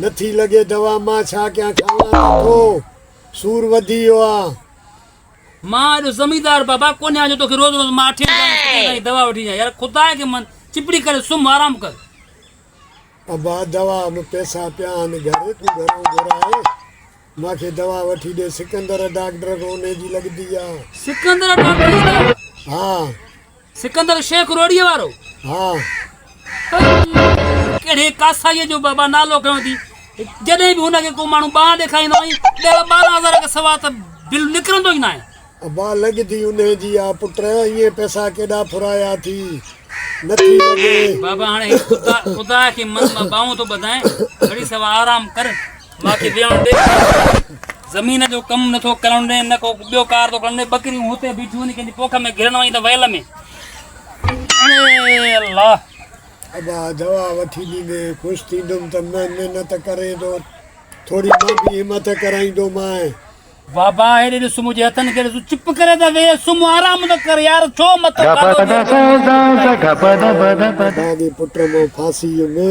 نٿي لڳي دوا مان ڇا ڪيان کاوان ٿو سور وڌي ويو آ. مان ايڏو زميندار بابا ڪونهيان جو توکي روز روز مان اٺي ويٺا آهيان ڪٿي تائين دوا وٺي ڏيان يار خدا کي من چپڙي ڪري سم آرام ڪر. ابا دوا م پيسا پيا آهن گهر تون گهرون گهرائي. مان کي دوا وٺي ڏي. سڪندر ڊاڪٽر کان انهي جي لڳتي آ. سڪندر ڊاڪٽر جي ڪري؟ ها. سڪندر شيخ روهڙيء وارو؟ ها. ڪهڙي ڪاسائيء جو بابا نالو کنيو اٿئي؟ جڏهن به هن کي ڪو ماڻهو ٻانهن ڏيکاريندو آهين، ڏهه ٻارهن هزار کان سواء ته بل نڪرندو ئي ناهي. ابا لڳتي انهي جي آ پٽ، ائين پئسا ڪيڏا ڦرايا اٿئي، نٿي لڳي. بابا هاڻي خدا کي من مان ٻانهون ٿو ٻڌائين، گهڙي سوا آرام ڪر. ماکي ويهڻ ڏي زمين جو ڪم نٿو ڪرڻ ڏي نه ڪو ٻيو ڪار ٿو ڪرڻ ڏي ٻڪريون هتي بيٺيون آهن ڪنهن جي پوک ۾ گرڻ وڃي ته ويل ۾ الله ابا دوا وٺي ڏيندي خوش ٿيندم ته مان محنت ڪرين ٿو ٿوري مان به همت ڪرائيندو مان بابا هيڏي ڏس مجھے هٿن کي ڏس چپ ڪري ته وي سم آرام ته ڪر يار ڇو مت ڪر ڏاڏي پٽ مون ڦاسي ۾